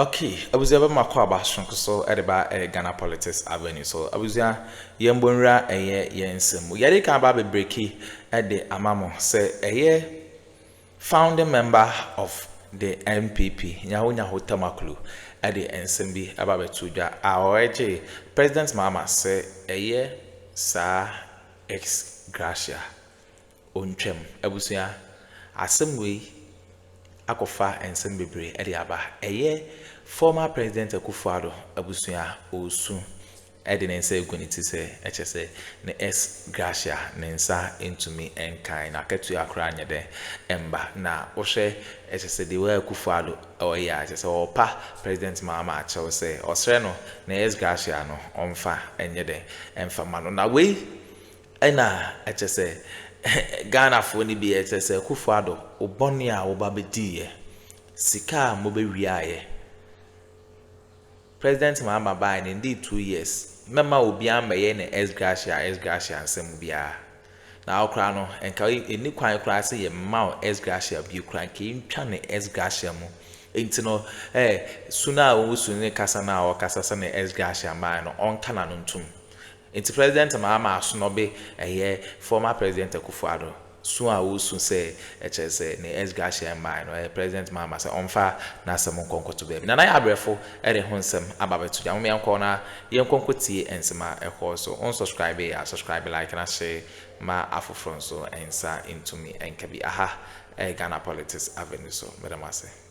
Okay abusua bɛ makɔ aba soronko so de ba ɛyɛ Ghana politics avenue so abusua yɛn bɔ nwura ɛyɛ yɛn nsɛm mu yɛde kan aba bebreki ɛde ama mo sɛ ɛyɛ founding member of the NPP nyaho nyaho tamakulu ɛde nsɛm bi ɛba bɛto dwa a ɔregye president Mahama sɛ ɛyɛ saa ex gratia. Ontwam. Abusua, asɛm wei akɔfa nsɛm bebree de aba. Ɛyɛ former President Akuffo Addo abusua a ɔresu de ne nsa agu ne ti sɛ ɛkyɛ sɛ ne ex gratia ne nsa ntumi nkan no akatua koraa nyɛ dɛ mma. Na wohwɛ ɛkyɛ sɛ the way Akuffo Addo ɔyɛ a ɛkyɛ sɛ ɔrepa President Mahama akyɛw sɛ ɔsrɛ no ne ex gratia no ɔmfa nyɛ dɛ mfa ma no. Na wei Ɛna ɛkyɛsɛ Ghanafoɔ no bi ɛkyɛsɛ Akufo Addo wo bɔne a wo ba bɛdiiɛ, sika a mobɛ wiaaɛ, President Mahama baaɛ no ndii two years, mɛma obia mmɛyɛ no ex gratia ex gratia nsɛm biara, na wo koraa no nka ɛnni kwan koraa sɛ yɛ mma wo ex gratia bio koraa, nka yɛ ntwa no ex gratia mu, nti no ɛɛ su no a wo su ne kasa no a ɔkasa sɛ no ex gratia mmaa no ɔnka n'ano ntom, Nti President Mahama asnɔbe ɛyɛ former President Akufo Addo. Su a wosu sɛ ɛkyerɛ sɛ ne sgahyeɛ mmae no ɛyɛ President Mahama sɛ ɔmfa n'asɛm nkɔ nkɔto baabi. Nana yɛ abrɛfo ɛde ho nsɛm aba abɛto gya. Mom yɛnkɔ na yɛnkɔ nkɔ tie nsɛm a ɛkɔɔ so. Wo nsɔscribee a sɔscribe like na share ma afoforɔ nso nsa ntumi nka bi. Aha ɛyɛ Ghana Politics Avenue so. Meda mo ase.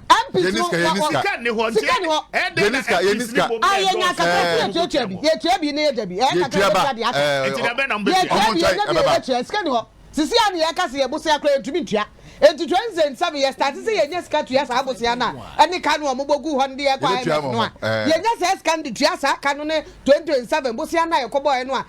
MPs no wɔ wɔ sika nni hɔ nti ɛdɛn na MPs ni bɔ mu ɛdɔɔso. yɛnya kakra ti yɛtuatua bi yɛtua bi ne yɛda bi ɛyɛ kakra yɛbɛtua de aka. nti dɛbɛn na mo bɛ tua. yɛtua bi yɛnya bi yɛbɛtua sika nni hɔ sisi a ne yɛka se yɛbosea koraa yɛntumi ntua nti twenty and seven yɛ start se yɛnya sika tua saa bosea no a ɛne ka no a wɔbɔ gu hɔ no de yɛkɔ IMF no a yɛnya saa sika no de tua saa ka no ne twenty twenty seven bosea no a yɛkɔbɔɔɛ no a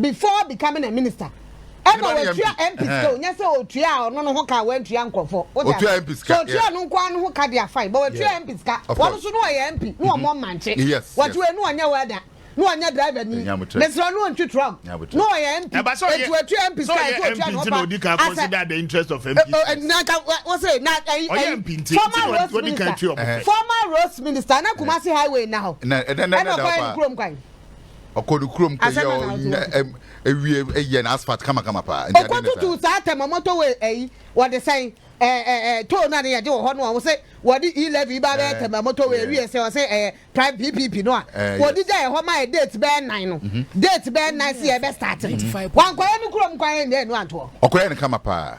before becoming a minister ɛna watua MP sika o nyɛ sɛ otua a ɔno no ho ka a wantua nkurɔfoɔ o de afa so otua no nkoa no ho ka de afa yi bɔ watua MP sika wɔn nso no ɔyɛ MP no wɔn mmankye wɔte wei no ɔnyɛ wɛda no ɔnyɛ driver ni mesrɛ no ɔntwi truck no ɔyɛ MP eti watua MP sika ɛsɛ otua no ɔfa asɛ nanka wɔsɛ na ɛyi former roads minister former roads minister na Kumasi highway na hɔ ɛna ɔkwan kurom kwan. Ɔkɔ ne kurom kɔ yɛ ɔnyɛ ewie yɛ n'asphalt kamakama paa. Nti adi ne saa. Ɔkɔtutu saa tɛm a wɔtɔ wɔ ɛyi wɔde sɛn ɛɛ ɛɛ toll no a ne yɛgye wɔ hɔ no a wɔsɛ wɔde e levy ba bɛyɛ tɛm a wɔtɔ wɔ ewie sɛ wɔsɛ ɛyɛ prime ppp no a wɔde gya yɛ hɔ ma yɛ date bɛyɛ nan no date bɛyɛ nan sɛ yɛbɛ start no wankɔyɛ ne kurom kwan yɛ nyɛ ɛnu antoɔ. Ɔkɔyɛ ne kama paa.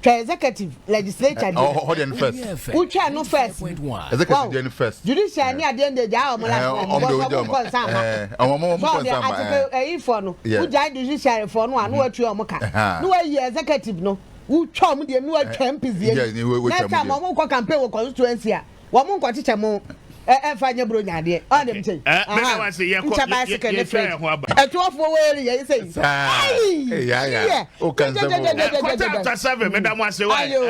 Twa executive, legislature deɛ. Ɔhɔ hɔ deɛ no first. Wotwa ɛno first. Executive deɛ no first. Judicial ni adeɛ deɛ gyaa ɔmo last one. Because ɔmo nkɔ nsa ama. Ɔmo ɔmo nkɔ nsa ama. So ɔdeɛ ayi fɔ no. Wogyaa judiciary fɔ no a na watua ɔmo ka. Na wayi executive no. Wotwa ɔmo deɛ na watwa MPs deɛ. Next time ɔmo kɔ campaign wɔ constituency a. wɔn mo nkɔkyekyɛ mo ɛnfa nyɛ buro nya adeɛ ɔn dem kyɛn ahan nkyɛ bicycle ne freight ɛtoɔfoɔ wɔ eri yɛ sɛ yi ayi yɛ jɛjɛjɛjɛjɛjɛjɛ chapter seven mi da mo ase wa ayo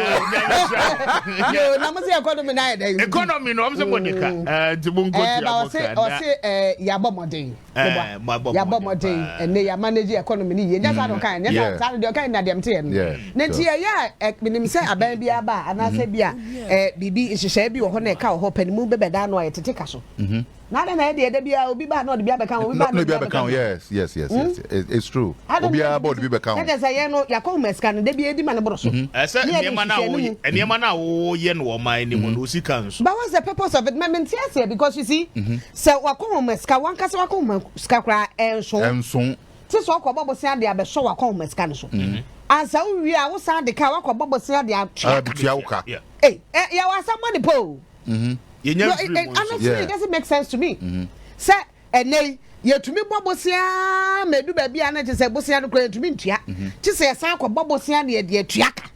yo na mo se economy na ayɛ dɛ economy na ɔmo se mo de ka nti mo nkɔ tia mo ka na ɔse ɔse yabɔ mɔden meboa yɛabɔ mmɔden ɛnɛ yɛ manage economy no yie nyɛ saa na mm. ɔkae nyɛ saa mm. saa no deɛ ɔkae na deɛ mteɛ no na nti yɛyɛ a menim sɛ aban bi aba a anaasɛ mm-hmm. bi a mm-hmm. biribi nhyehyɛe bi wɔ hɔ na ɛka wɔ hɔ pɛ ne mu bɛbɛda ano a yɛtete ka so mm-hmm. na adɛn na yɛ deɛ ɛda bi a obi baa na ɔde bi abɛka ho obi baa na ɔde bi abɛka ho yes yes yes yes hmm? it's true obiara bɔ ɔde bi bɛka ho ɛdɛ sɛ yɛn no yɛakɔ ho masika no da bi edi ma ne boro so ɛsɛ nneɛma na wo nneɛma na wo yɛ no wɔ ɔman anim no osika nso but what's the purpose of it mɛmɛ nti aseɛ because you see Sɛ w'akɔnhoma sika, w'ankasa w'akɔnhoma sika koraa ɛnso. Ɛnso. Te sɛ ɔkɔbɔ bosea de abɛsɔ w'akɔnhoma sika no so. Mhm. Ansa wowie a wosan de ka a wakɔbɔ bosea de atua ka. Atua wo ka. Ei, ɛ yɛwɔ asɛm bɔ ne po o. Mhm. Yɛnya No, it, mfiri it, mu nso. honestly, it Yeah. doesn't make sense to me. Mhm. Sɛ ɛnɛ yi yɛtumi bɔ bosea ma edu baabi a na kyerɛ sɛ bosea no koraa yɛntumi ntua. Kye sɛ yɛsan kɔbɔ bosea de yɛde atua ka.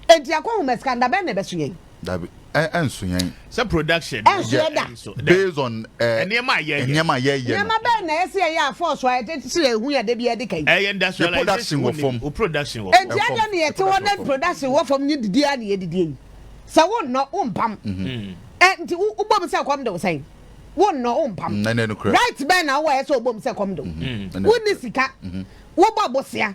Enti akɔnhoma sika no, da bɛn na ɛbɛso yɛn? Dabi, ɛ ɛnso yɛn. Sɛ production. Ɛnso yɛ da. Based on ɛ nneɛma a yɛyɛ. Nneɛma a yɛyɛ no. Nneɛma bɛn na ɛsɛ yɛyɛ a force a yɛde sɛ yɛn ho yɛ de bi yɛde ka yi. Ɛyɛ industrialization. Yɛ production wɔ fam. O production wɔ fam. Eti adɛn na yɛte hɔ na production wɔ fam nye didi a na yɛdidi yi. Sɛ wo nnɔ wo mpam. Ɛ nti wo wobɔ mu sɛ kɔm de wo sɛn. Wo nnɔ wo mpam. Right bɛn na wowɔ ɛsɛ wobɔ mu sɛ kɔm de wo. Wonni sika. Wobɔ bosea.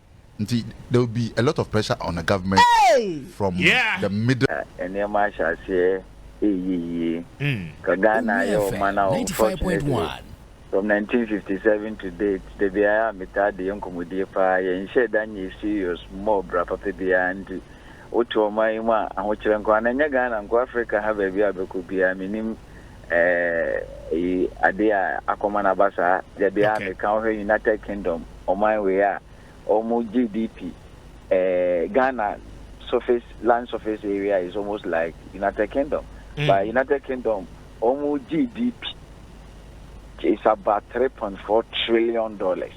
Nti there will be a lot of pressure on the government from the middle. Na nneɛma ahyɛ aseɛ reyɛ yie. Ka Ghana ayɛ ɔman a unfortunately from nineteen fifty seven to date da biara a metaa de yɛ nkɔmmɔdie paa yɛnhyɛɛ da nyɛɛ serious mmɔɔ bra papa biara nti wote ɔman yi mu a ahokyerɛ nko ara na ɛnyɛ Ghana nko Africa ha baabi a bɛkɔ biara mennim Eh eyi ade a akɔma no aba saa dabi a meka wo hwɛ United Kingdom ɔman wei a ɔmo GDP eh Ghana surface land surface area is almost like United Kingdom but United Kingdom ɔmo GDP is about three point four trillion dollars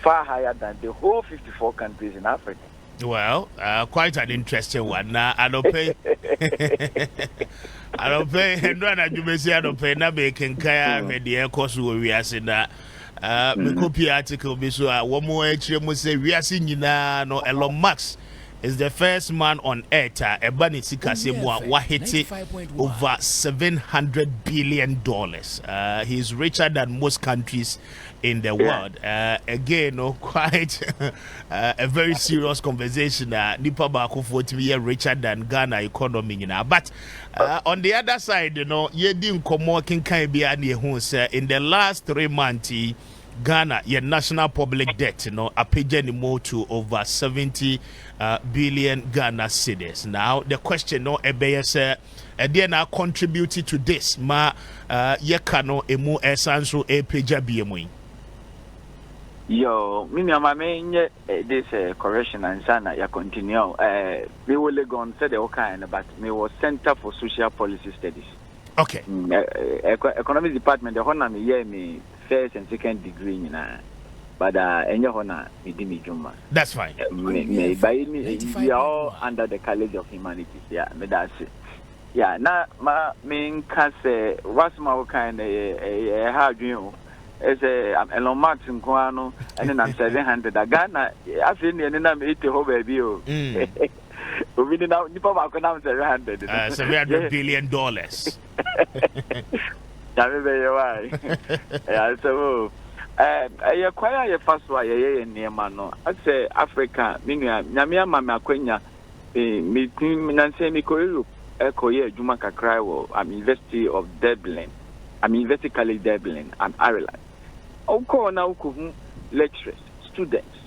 far higher than the whole fifty four countries in Africa. Well, uh, quite an interesting one. Na anɔpɛ anɔpɛ ɛnura na adwumasi anɔpɛ na mekenkan ahwɛ deɛ ɛkɔ so wɔ wiase na uh, mm-hmm. mekɔpie article bi so a wɔn akyerɛ mu sɛ wiase nyinaa no Elon Musk is the first man on earth a ɛba ne sikasɛ mu a wahete over 700 billion dollars uh, he is richer than most countries in the world uh, again no quite uh, a very serious conversation uh, nipa baakofoɔ tumi yɛ richer than ghana economy nyinaa but uh, on the other side you know, yɛdi nkɔmmɔ kenkan biara ne yɛhu sɛ in the last three months ghana yɛ national public debt you no know, apagya ne mu to over 70 uh, billion ghana cities now the question no ɛbɛyɛ sɛ Ɛdeɛn na a contribute to this ma yɛka no ɛmu ɛsan nso ɛrepagya bie mu yi? Yoo, me nua ma me nyɛ this correction ansa na yɛ continue o. Me wɔ Legon sɛdeɛ wo kaeɛ no but me wɔ Centre for Social Policy Studies. Okay. Economics department ɛhɔ na me yɛɛ me first and second degree nyinaa but ah ɛnyɛ hɔ na me di me dwuma. That's fine. Me me ba yi ne eyi we are all under the college of humanities ya me da ase ya na ma me nka sɛ wasɛm a wokan na yɛ ɛyɛ ha adwene o ɛsɛ Elon Musk nko ara no ɛne nam seven hundred a Ghana afei ne ɛne nam eighty hɔ baabi o. Mm. obi ne nam nipa baako nam seven hundred. Uh, seven hundred billion dollars. nyame bɛyɛ wa ɛyɛ asɛm o ɛyɛ kwan a yɛfa so a yɛyɛ yɛ nneɛma no asɛ africa me nua nyame ama me akwanya metim nansɛ mekɔ europe ɛkɔyɛ adwuma kakra wɔ am university of dublin am university college dublin am ireland wokɔɔ na wokɔhu lecturers students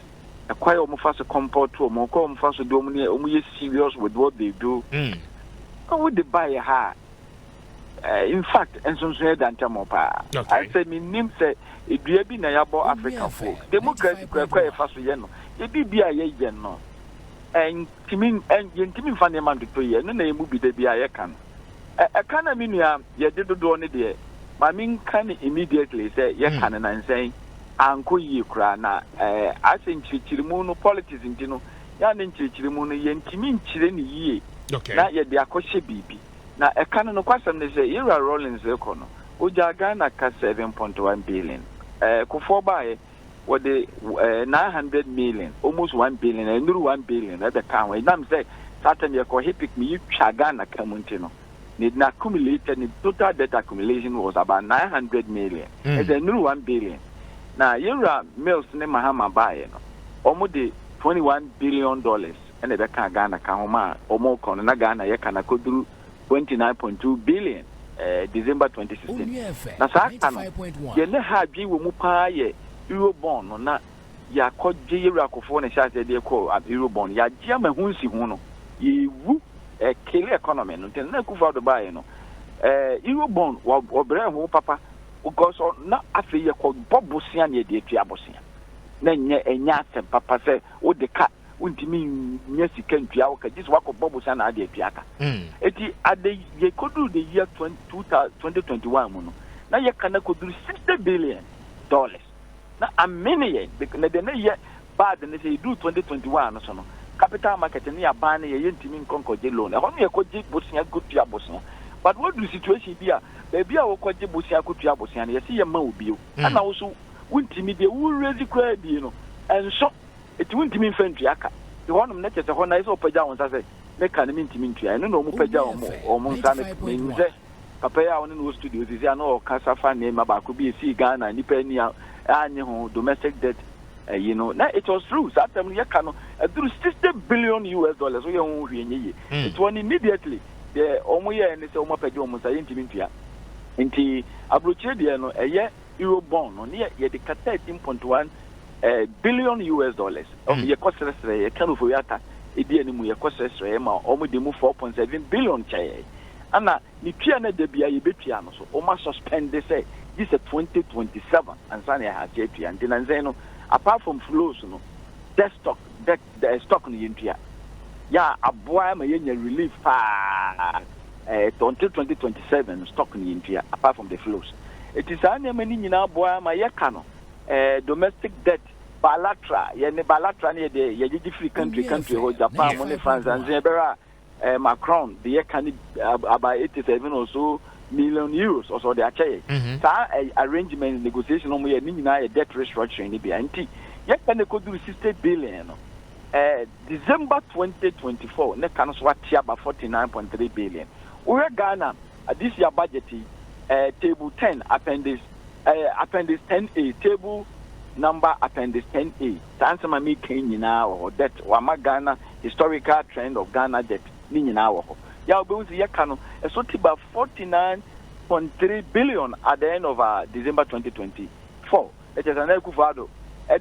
ɛkwae a wɔfa so kɔmpɔto wɔn, ɛkwae a wɔfa so de wɔn ne wɔn yɛ serious with what they do. Na wode baeɛ ha a, eh, in fact, nsonsono yɛ dantamɔ paa. Okay. Sɛ menim sɛ edua bi na yɛabɔ Africafo, democracy kura ɛkwae a yɛfa so yɛ no, yɛde bi a yɛyɛ no, ɛntumi, ɛn- yɛntumi mfa nneɛma ntoto yɛ, ɛno na yɛn mu bi da bi a yɛka no. Ɛ- Ɛka no a me nua yɛde dodoɔ no deɛ, ma menka no immediately sɛ yɛka no nansɛn. ankɔ yie koraa na asɛ nkyerɛkyerɛmu no politics nti no yɛ a ne nkyerɛkyerɛmu no yɛntumi nkyerɛ no yie na yɛde akɔhyɛ biribi na ɛka no nokwasɛm ne sɛ yɛwura Rawlings rekɔ no ɔgyaa Ghana ka seven point one billion ɛɛ kofoɔ baeɛ wɔde ɛɛ nine hundred million almost one billion ɛnuru one billion ɛbɛka ho ɛnam sɛ saa tɛm yɛkɔ hipik mu yɛtwa Ghana ka mu nti no. ne n'accumulated ne total debt accumulation was about nine hundred million mm. ɛsɛ nnuru one billion na yɛwura mills ne mahama baeɛ no wɔn de twenty one billion dollars ɛna ɛbɛka ghana ka ho ma wɔn kɔ no na ghana yɛ ka na koduru twenty nine point two billion ɛɛ eh, december twenty sixteen na saa ka no yɛn ne ha adwene wɔ mu paa yɛ euro bond no na Yɛakɔgye yɛwura Kufuor ne hyɛaseɛ de kɔ Ampiro bɔn. Yɛagye ama ɛho nsiho no. Yɛrewu. Ɛkele economy no. Nti na Kufuor Addo baeɛ no, eh, Euro bɔn, wɔbrɛɛ ho papa. Because ɔ, na afei yɛkɔbɔ bosea na yɛde atua bosea. Na ɛnyɛ, ɛnyɛ asɛm papa sɛ wode ka, wontumi nnya sika ntua wo ka. Gye sɛ woakɔbɔ bosea na ade atua ka. Enti ade, yɛkɔduru the year 20, 2021 mu no, na yɛka no akɔduru 60 billion dollars. Na amene yɛn bek na deɛ na ɛyɛ bad ne sɛ yɛduru 2021 no so no capital market ne yɛaban no yɛ yɛntumi nkɔ nkɔgye loan ɛhɔ no yɛkɔgye bosea kɔtua bosea but woaduru situation bi a baabi a wokɔgye bosea kɔtua bosea no yɛse yɛmma wo bio mm. ɛna wo so wontumi deɛ wo raise koraa bie no ɛnso ɛti wontumi mfa ntua ka nti hɔnom na kyɛ sɛ hɔ na ɛsɛ ɔpagya wo nsa sɛ ne ka no mentumi ntua ɛno na ɔmu pagya ɔmo nsa ne menim sɛ Papa yi a wɔne no wɔ studio seesei a na ɔkasa fa nneɛma baako bi a esii Ghana a nnipa ani annye ho, domestic debt ayi no. Na it was true, saa term no yɛka no aduru sixty billion US dollars, woyɛ ho hwee nyɛ yie. Nti wɔn immediately deɛ wɔn yɛɛ ne sɛ wɔn apagya wɔn nsa, yɛntumi ntua. Nti aburokyire deɛ no ɛyɛ Euro bond no ne yɛde ka thirteen point one billion US dollars, yɛkɔ srɛsrɛ, yɛka no for yɛata edi anim, yɛkɔ srɛsrɛ ma wɔn de mu four point seven billion kyɛɛ yɛn. ɛna ne tua no da biara yɛbɛtua no so wɔma suspend sɛ gye sɛ twenty twenty seven ansa na yɛaha ase atua nti nansa no apart from flows no debt stock debt eh, stock no yɛntua yɛ a aboa ma yɛnya relief paa eh, twenty twenty twenty seven no stock no yɛntua apart from the flows ɛti saa nneɛma no nyinaa aboa ma yɛka no eh, domestic debt bilateral yɛne bilateral no yɛde yɛgyegye firi country country hɔ japan mu ne france ansa yɛbɛrɛ a eh, Macron de yɛ ka ne about eighty seven or so million euros ɔsɛ ɔde akyɛ yɛ mm-hmm. saa eh, arrangement negotiation ɔmo yɛ ne nyinaa yɛ debt restructuring ne bia nti yɛ ka ne koduru sixty billion no eh, December twenty twenty four ne ka no so ate aba forty nine point three billion wohwɛ Ghana eh, this year budget yi eh, table ten appendix eh, appendix ten a table number appendix ten a. Saa nsɛm a mereka yi nyinaa wɔ hɔ. Debt, wɔama Ghana Historical Trend of Ghana Debt ne nyinaa wɔ hɔ. Yɛ a wobɛhu sɛ yɛka no, ɛso te ba forty nine point three billion at the end of aa December twenty twenty four. Na kyerɛ sɛ Nana Akufo Addo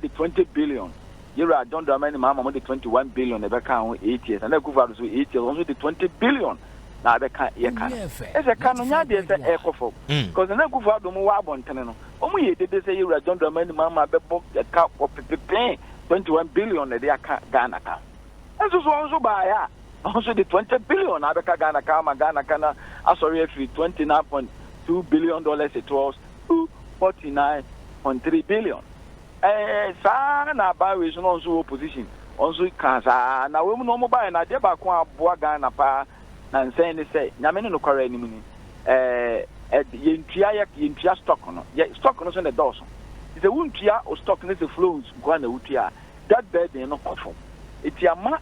de twenty billion, Yewura John Dramani Mahama wɔde twenty one billion na ɛbɛkaa ho eight years. Nana Akufo Addo nso eight years, ɔno nso de twenty billion na abɛka yɛ ka no. Kyerɛ sɛ ka no nyɛ adeɛ sɛ ɛrekɔ fam. Because Nana Akufo Addo mo wɔ abɔntene no, Wɔn yɛ dede sɛ Yɛwura John Dramani Mahama bɛbɔ ka wɔ pepepee twenty one billion na ɛde aka Ghana ka. Nanso so wɔn nso baeɛ a, wɔn nso de twenty billion na abɛka Ghana ka ama Ghana ka no asɔre afiri twenty nine point two billion dollars towards two forty nine point three billion. Ɛɛ saa ara na aban wei nso na wɔn nso wɔ opposition wɔn nso kaa saa ara. Na wei mu no wɔn baeɛ no adeɛ baako a aboa Ghana paa Na nsɛɛ ne sɛ, Nyame ne nokware anim ni. Ɛɛ, ɛd, yentua, yɛ, yentua stock no. Yɛ, stock no so na ɛdɔɔso. Nti sɛ wontua wo stock no sɛ flows nko ara na wotua a, debt burden no kɔ fam. Nti ama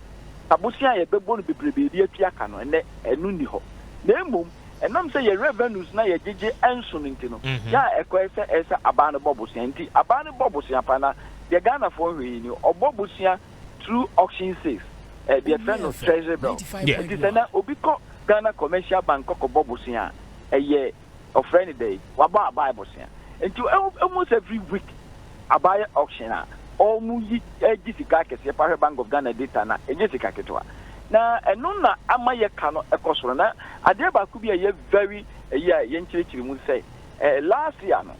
abosea a yɛbɛbɔ no bebrebe de atua ka no, ɛnnɛ, ɛno nni hɔ. Na mmom, ɛnam sɛ yɛn revenues no a yɛgyegye nso no nti no, yɛ a ɛkɔ ara sɛ ɛyɛ sɛ aban no bɔ bosea. Nti aban no bɔ bosea paa, na deɛ Ghanafoɔ nhwɛ yi ni, ɔbɔ bosea through auction sales, eh, deɛ yɛfrɛ no treasury bill. Yeah. Nti sɛ nɛ obi kɔ Ghana Commercial Bank kɔkɔbɔ bosea a, ɛyɛ ɔfrɛ no dɛn, wabɔ abae bosea. Nti almost every week abae auction a, ɔmo yi gye sika akɛseɛ paa. Hwɛ Bank of Ghana data no a, ɛnyɛ sika ketewa. Na ɛno na ama yɛka no ɛkɔ soro. Na adeɛ baako bi a ɛyɛ very ɛyi a yɛnkyerɛkyerɛ mu sɛ, eh, last year no,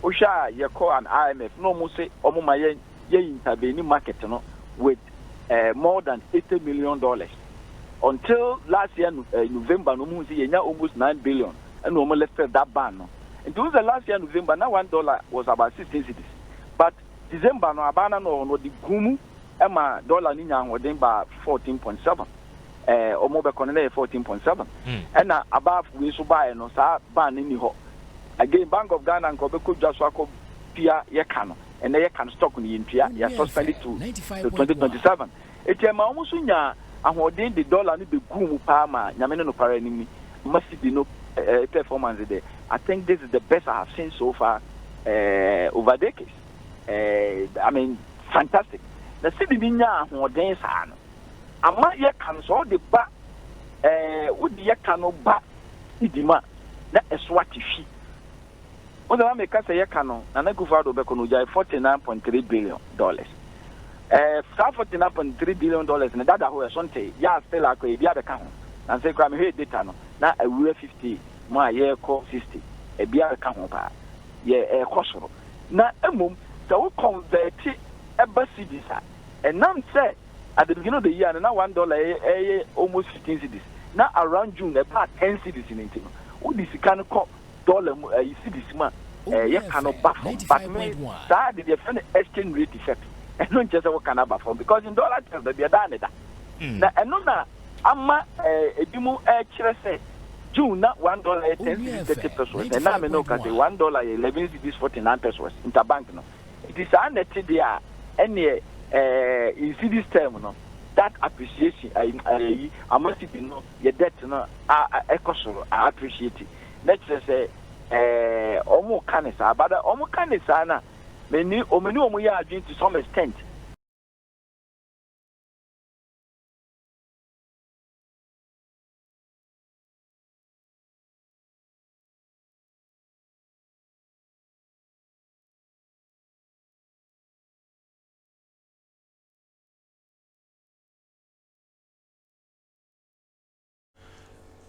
wohwɛ a yɛkɔ an IMF na ɔmo se ɔmo ma yɛ yɛ interveni market no with eh, more than eighty million dollars until last year eh, november no ɔmuhu sɛ yɛnya almost nine billion ɛna ɔmu lifted that ban no nti wohu sɛ last year november na one dollar was about sixteen cities but december no abaa na na ɔwɔ no ɔde gu mu ɛma dollar no nya ahoɔden baa fourteen point seven eh, ɔmu bɛkɔ no na yɛ fourteen point seven hmm. ɛna abaa wei nso baeɛ no saa ban no ni hɔ again bank of ghana nka ɔbɛkɔ dwa so akɔ pia yɛka no ɛnɛ yɛka no stock no, yɛntua, yɛ suspend to to twenty twenty seven. Eti ɛma wɔn nso nyaa ahoɔden de dollar no beguu mu paa ma Nyame ne nokware anim ni, ma cedi no eh, performance de, I think this is the best I have seen so far eh, over decades. Eh, I mean, fantastic. Na cedi no nyaa ahoɔden saa no, ama yɛka no sɛ ɔde ba eh, wode yɛka no ba cedi mu a, na ɛso ate hwi. Wo dza na meka sɛ yɛka no, Nana Akufo Addo bɛkɔ no ogyae forty nine point three billion dollars. Ɛɛ saa forty nine point three billion dollars no dada hɔ yɛso ntee, yɛa still akɔ ebi abɛka ho. Nansei koraa mehwɛɛ data no na awura fifty mu a yɛrekɔ sixty, ebi abɛka ho paa. Yɛ ɛrekɔ soro. Na mmom sɛ wo kɔnvɛɛte ɛba cedis a, ɛnam sɛ at the beginning of the year no na one dollar yɛ ɛyɛ almost fifteen cedis na around June ɛbaa ten cedis no nti no, wode sika no kɔ dollar mu ɛyi eh, cedis mu a ɛɛ eh, yɛka no ba fam but me saa de deɛ fɛ no exchange rate effect ɛno nkyɛ sɛ wɔka no aba fam because in dollar terms baabi ɛdaa ne da hmm. na ɛno na ama ɛɛ eh, ebi mu ɛkyerɛ sɛ june na one dollar yɛ ten cedis thirty pesos na ɛnna mi na ɔka sɛ one dollar yɛ eleven cedis forty nine pesos interbank no nti saa na ɛte deɛ a ɛneɛ ɛɛ in cedis term no that appreciation ayi ama cedi no yɛ debt no a kɔ soro a appreciate na kyerɛ sɛ ɛɛ wɔn ka ne saa but wɔn ka ne saa na me ni wɔn ni wɔn yɛ adwene to some extent.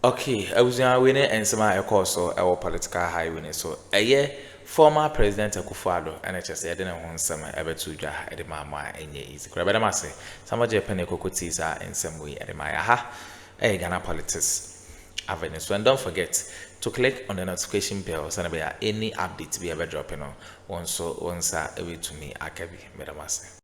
Ok abusua wei ne nsɛm a ɛkɔɔ so ɛwɔ political highway no so ɛyɛ former president Akufo Addo ɛna ɛkyɛ sɛ yɛde ne ho nsɛm ɛbɛto dwa ɛde maa mo a ɛnyɛ easy koraa bɛda mo ase sɛ mo gye pene koko tii saa nsɛm wei ɛde maa yɛ aha ɛyɛ Ghana politics avenue so and don't forget to click on the notification bell sɛne bɛyɛ a any update bi a ɛbɛdrɔpe no wɔn nso wɔn nsa ɛbɛtumi aka bi bɛda mo ase.